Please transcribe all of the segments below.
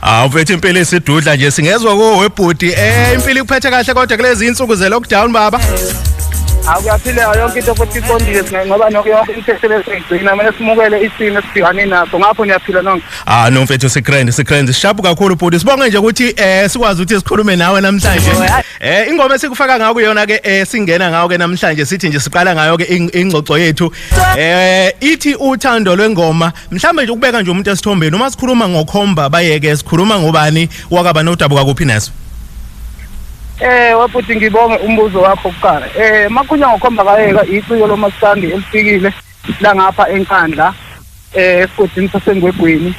Hawu mfethu impilo esidudla nje singezwa ko webhuti eh impilo ikuphethe kahle kodwa kulezi insuku ze lockdown baba. Hawu kuyaphileka yonke into futhi iqondile sina ngoba nokho yonke into eselesiyigcina mina simukele isimo esibhekane naso ngapho niyaphila nonke. Ah no mfethu sikrend sikrend sishapu kakhulu bhuti sibonge nje ukuthi eh sikwazi ukuthi sikhulume nawe namhlanje. Eh ingoma esikufaka ngayo kuyona ke eh singena ngayo ke namhlanje sithi nje siqala ngayo ke ingxoxo yethu. Eh ithi uthando lwengoma mhlawumbe nje ukubeka nje umuntu esithombeni uma sikhuluma ngokhomba bayeke sikhuluma ngobani wakaba nodabuka kuphi neso Eh wafuthi ngibonge umbuzo wakho kuqala. Eh makunya ngokhomba kayeka iciko lomaskandi elifikile la ngapha enkandla eh esigodini sasengwegwini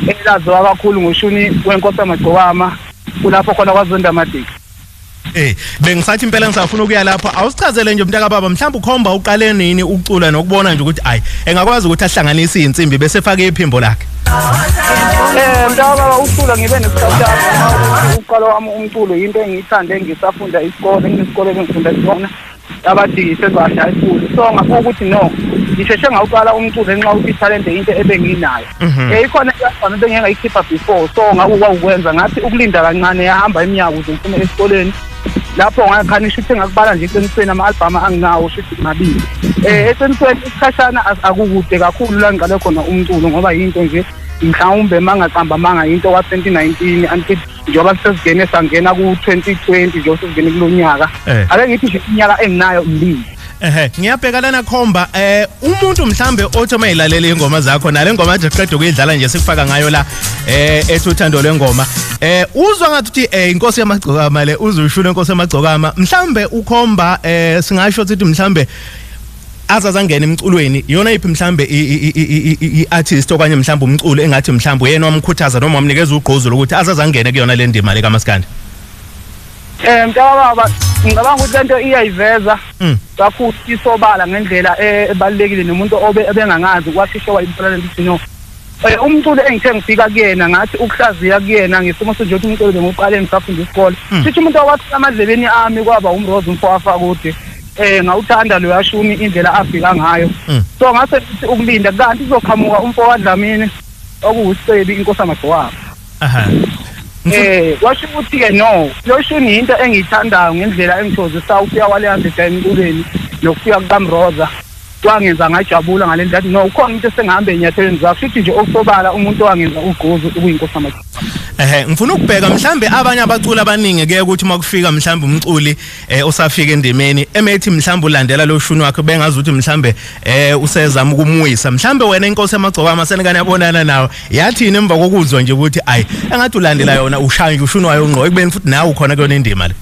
elaziwa kakhulu ngoshuni wenkosi amagcokama kulapho khona kwazonda amadiki. Eh bengisathi impela ngisafuna ukuya lapho awusichazele nje mntaka baba mhlawumbe ukhomba uqale nini ukucula nokubona nje ukuthi ay engakwazi ukuthi ahlanganise izinsimbi bese fake iphimbo lakhe Eh mntaka baba ucula ngibe nesikhathi uqala wami umculo into engiyithande ngisafunda isikole nginesikole engifunda sona abathi sezwadla enkulu so ngakho ukuthi no ngisheshe ngawuqala umculo ngenxa ukuthi ithalente into ebenginayo um ikhona eyafana into engengayikhipha before so ngakho kwakukwenza ngathi ukulinda kancane yahamba iminyaka ukuze ngiphume esikoleni lapho ngakhanisha ukuthi ngakubala nje eqinisweni ama-albhamu anginawo shuthi ngabili um eh, eqinisweni isikhashana akukude kakhulu la ngiqale khona umculo ngoba yinto nje mhlawumbe uma ngaqamba amanga yinto kwa-twenty nineteen until njengoba sesivene sangena ku-2020 njengoba sesivene kulo nyaka Eh. ake ngithi nje iminyaka enginayo mbili ehe ngiyabheka lana khomba eh umuntu mhlambe othi uma elalele ingoma zakho nale ngoma nje qeda ukuyidlala nje sikufaka ngayo la eh ethi uthando lwengoma eh uzwa ngathi uthi eh inkosi yamagcokama le uzuyishula inkosi yamagcokama mhlambe ukhomba eh singasho ukuthi mhlambe azazangena emculweni yona iphi mhlambe i-artist okanye mhlambe umculo engathi mhlambe uyena wamkhuthaza noma wamnikeza ugqozi lokuthi azazangene kuyona le ndima le kamaskandi eh mntakababa ngicabanga ukuthi lento iyayiveza hmm. kakhulu isobala ngendlela eh, ebalekile nomuntu obe ebengangazi kwasisho wayimthola lento no Eh, umculo engithe ngifika kuyena ngathi ukuhlaziya kuyena ngesimo senje ukuthi umculo bengiqale ngisafunda isikole hmm. sithi umuntu owathi amadlebeni ami kwaba umrose umfowafa kude eh ngawuthanda lo yashuni indlela afika ngayo hmm. so ngase sithi ukulinda kanti kuzoqhamuka umfo wadlamini okuwusebi inkosi amagcwaba aha eh washo ukuthi ke no lo shuni into engiyithandayo ngendlela engithozisayo ukuya wale yase emculweni nokufika kukamroza kwangenza ngajabula ngale ndlela no ukhona umuntu esengihamba enyathelweni zakho futhi nje okusobala umuntu owangenza ugquzu ukuyinkosi amathi ehe ngifuna ukubheka mhlambe abanye abaculi abaningi ke ukuthi makufika mhlambe umculi eh, osafika endimeni emethi mhlambe ulandela lo shuni wakhe bengazi ukuthi mhlambe eh, usezama ukumuyisa mhlambe wena inkosi yamagcokama senikane yabonana nawo yathini emva kokuzwa nje ukuthi ayi engathi ulandela yona ushaya nje ushuni wayo ngqo ekubeni futhi nawe ukhona kuyona indima le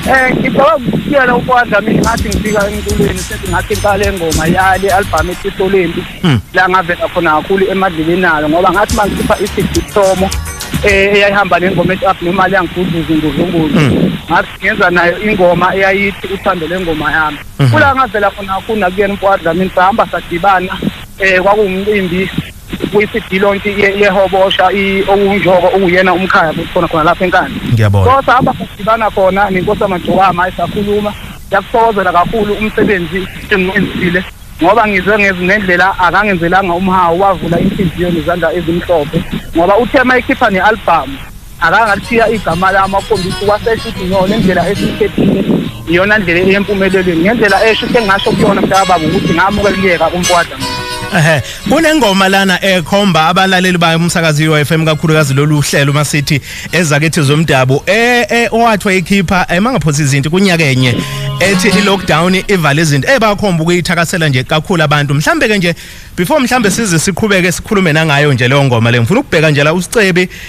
Eh ngicela ukutshela ukwanda mina ngathi ngifika emculweni sethi ngathi ngicala engoma yali album eTisolembi hmm. la ngavela khona kakhulu emadleleni nalo ngoba ngathi mangikhipha iCD Somo eh eyayihamba nengoma ethi up nemali yangifuduza ngozunguzo hmm. ngathi ngenza nayo ingoma eyayithi uthando lengoma yami hmm. kula ngavela khona kakhulu nakuyena mfwadla mina sahamba sadibana eh kwakuwumcimbi kwisidilonti yehobosha owunjoko uwuyena umkhaya futhi khona khona lapha enkani ngiyabona kodwa abadibana khona nenkosi amagcokama esakhuluma yakuthokozela kakhulu umsebenzi engenzile ngoba ngizwe ngendlela akangenzelanga umhawu wavula inhliziyo nezandla ezimhlophe ngoba uthe uma ekhipha ne-albhamu akangashiya igama lami akhombisa ukwasesha ukuthi no le ndlela esiyikhethile iyona ndlela eyempumelelweni ngendlela esho sengasho kuyona mntakababa ukuthi ngamukeliyeka umkwada Ehhe kunengoma lana ekhomba abalaleli bayo umsakazi UFM kakhulukazi lolu hlelo masithi ezakithi zomdabu eh eh owathwa ikhipha emangaphosi izinto kunyakenye ethi i lockdown ivale izinto ebakhomba ukuyithakasela nje kakhulu abantu mhlambe ke nje before mhlambe size siqhubeke sikhulume nangayo nje leyo ngoma le ngifuna ukubheka nje la usicebi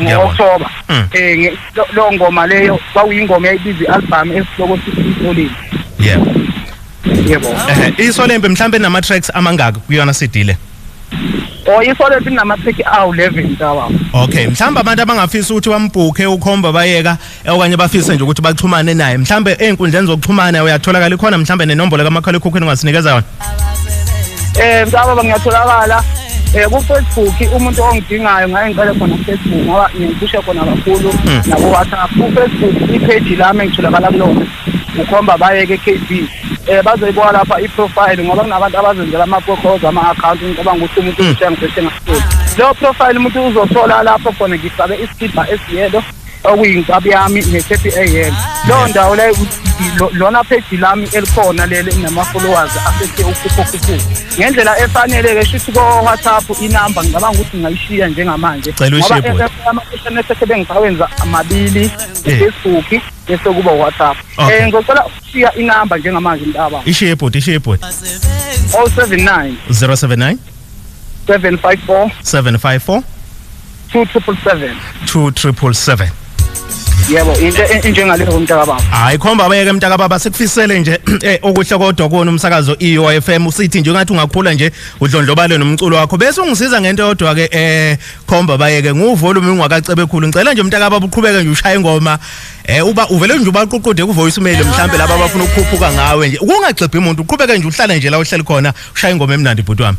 ngo-october um hmm. loo ngoma leyo kwakuyingoma yayibiza i-albhamu esihloko sisolini yebo yebo isolembe mhlawumbe nama-tracks amangaki kuyona sidile Oh isole sinama-30 awu-11 tawa. Okay, mhlawumbe abantu abangafisa ukuthi bambhukhe ukhomba bayeka Eh, okanye bafise nje ukuthi baxhumane naye mhlambe ey'nkundleni zokuxhumana uyatholakala ikhona mhlambe nenombolo kamakhalekhukhwini ungasinikeza yona eh msaba bangiyatholakala eh ku-facebook umuntu ongidingayo ngaye ngicele khona ku-facebook ngoba ngiphushe khona kakhulu hmm. naku-whatsapp ku-facebook ipheji lami engitholakala kulona ukhomba bayeke kb eh bazoyibuka lapha i-profile ngoba kunabantu abazenzela ama-procoza ama-akhawunti ngicabanga ukuthi umuntu hmm. uthenga seshengasoli leyo profile umuntu uzothola lapho khona ngifake isibha esiyelo okuyinkabi yami ne-thirty a.m leyo ndawo leyo lona pheji lami elikhona leli enama-followers asethe ukhuphokhuphuku ngendlela efanele-ke shuthi ko-whatsapp inamba ngicabanga ukuthi ngingayishiya njengamanje ngoba ama-sms esethe bengisawenza amabili eh. ufacebook bese kuba whatsapp um eh, ngizocela ukushiya inamba njengamanje mntaba ishiye bhuti ishiye bhuti 079 079 754 754 two triple seven 2777 yebo into e- enjengaleyo komntakababa hayi khomba abeke mntaka baba sikufisele nje eh okuhle kodwa kuwona umsakazo EOFM usithi nje ngathi ungakhula nje udlondlobale nomculo wakho bese ungisiza ngento yodwa ke eh khomba bayeke nguvolume ungakacebe khulu ngicela nje mntaka baba uqhubeke nje ushaya ingoma eh uba uvele nje ubaququde ku voice mail mhlambe laba abafuna ukukhuphuka ngawe nje kungagxibhi umuntu uqhubeke nje uhlale nje la uhleli khona ushaya ingoma emnandi bhuti wami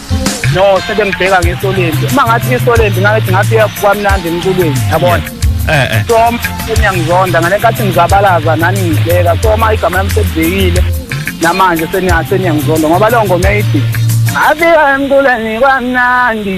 no sebengibheka ngesolembi uma ngathi ngesolembi ngathi ngathi kwamnandi emculweni yabona eh, eh. so seniyangizonda ngale nkathi ngizabalaza nani ngidleka so uma igama lami selibhekile namanje seniyangizonda ngoba leyo ngoma eyithi afika emculweni kwamnandi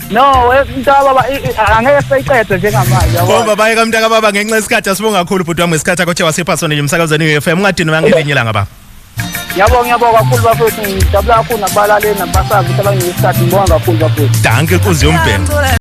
No, we- mntaka baba i- i- angeke seyiqede njengamanje. yabo. Bomba baye kamntaka baba ngenxa yesikhathi asibonga kakhulu bhuti wami ngesikhathi akho chewa siphasone nje umsakazweni we-FM ungadini wangelinye ilanga baba. Ngiyabonga ngiyabonga kakhulu bafethu ngijabula kakhulu nakubalaleli nakubasazi ukuthi abanginesikhathi ngibonga kakhulu bafethu. Danke inkunzi yombheno.